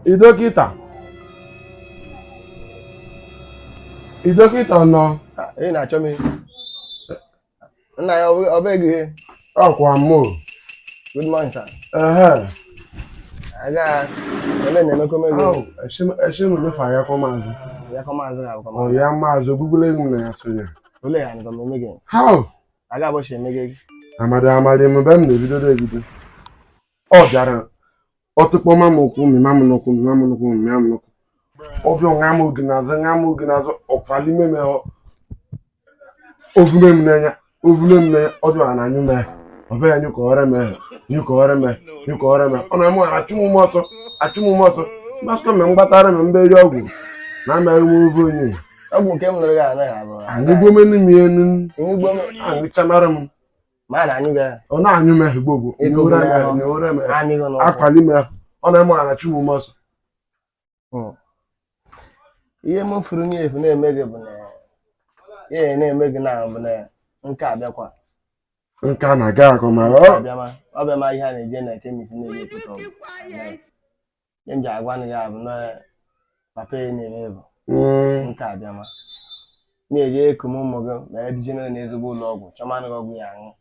Ị dọkịta? Ị dọkịta ọ nọ? Ah, Ị na-achọ m ihe. Nna ya ọ bụghị ihe. Ọkwa mụ. Good morning, sir. Ehe. Aga ebe na-emekọ m ego. Esi m lefa ya kọ maazị. Ya kọ maazị na abụkọ maazị. Ya maazị ogbugbulo ego m na ya sonye. Olee ya nịkọ m eme gị? How? Aga abụchi eme gị. Amadi amadi m be m na-ebido ebido. ọ bịara ọtụkpọ ma m ụkwụ mịma m n'ụkwụ mịma m n'ụkwụ mịma m n'ụkwụ ọ bịa ṅa m oge n'azụ ṅa m oge n'azụ ọkwali ime me ovume m n'anya ovume m n'anya ọ bịara na anyụ mee ọ bịa anyụ ka ọrịa mee nyụ ka ọrịa mee nyụ ka ọrịa mee ọ na mụ achụ m ume ọsọ achụ m ume ọsọ mgbasịkọ mgbe m gbatara m mberi ọgwụ na amaghị m ọ vụ onye ọgwụ nke m nụrụ gị anaghị abụ anyị gbome n'ime enu enugbo m aṅụchamara m Ma na anyụ gị ahụ. ọ na-anyụ m ahụ gbogbo Ego nyewere m gbara ahụ ahụ. nyewere m ahụ Amị gị n'ụkwụ. akwali m ahụ ọ na-eme ọ na-achụ m ume ọsọ Ihe m fụrụ n'ihe ọ vụ na-eme gị bụ na ihe na-eme gị na bụ na nke a bịakwa. nke a na-agakọ ma ọ bịama ọ bịama ihe a na-eje na chemist na-eje ekpota ọgwụ. ihe m ji agwa nụ ya bụ na papa ya na-eme bụ Mm. nke a bịama na-eji ekum ụmụ gị ma ya duje n'ụlọ ezigbo ụlọ ọgwụ chọmanụ gị ọgwụ ị ya-aṅụ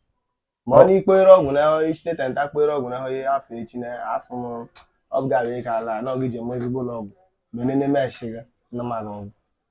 ma ọ na ikpoere ọgwụ na ichite tenta kpoere ọgwụ na ahụghị afọ echi na afọ m ọ bụ ga-abịa ka ala na ọ gị jeme ezigbo ụlọ ọgwụ ma enene meshi gị na mara ọgwụ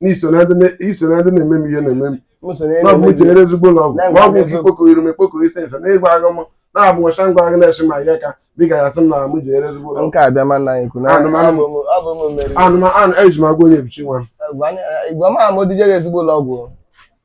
na i so na ndị na- i so na ndị na-eme m ihe na-eme m M so n'elu na ọgwụ emebi. jere ezigbo ụlọ ọgwụ Na-enwe na ọgwụ amịzụ. nke ikpokọ iru m ekpokọ ise nso n'ịgwa agụ m na-abụ nwacha ngwa agụ na-eche ma ihe ka dịka ya sị m na m jere ezigbo ụlọ ọgwụ nke a bịa mana anyị kwuru na Anụ m, anụ m. abụ m- abụ m meriri anụ m anụ eji m agwa onye ebichi nwa m Gwa- gwa m ama o duje gị ezigbo ụlọ ọgwụ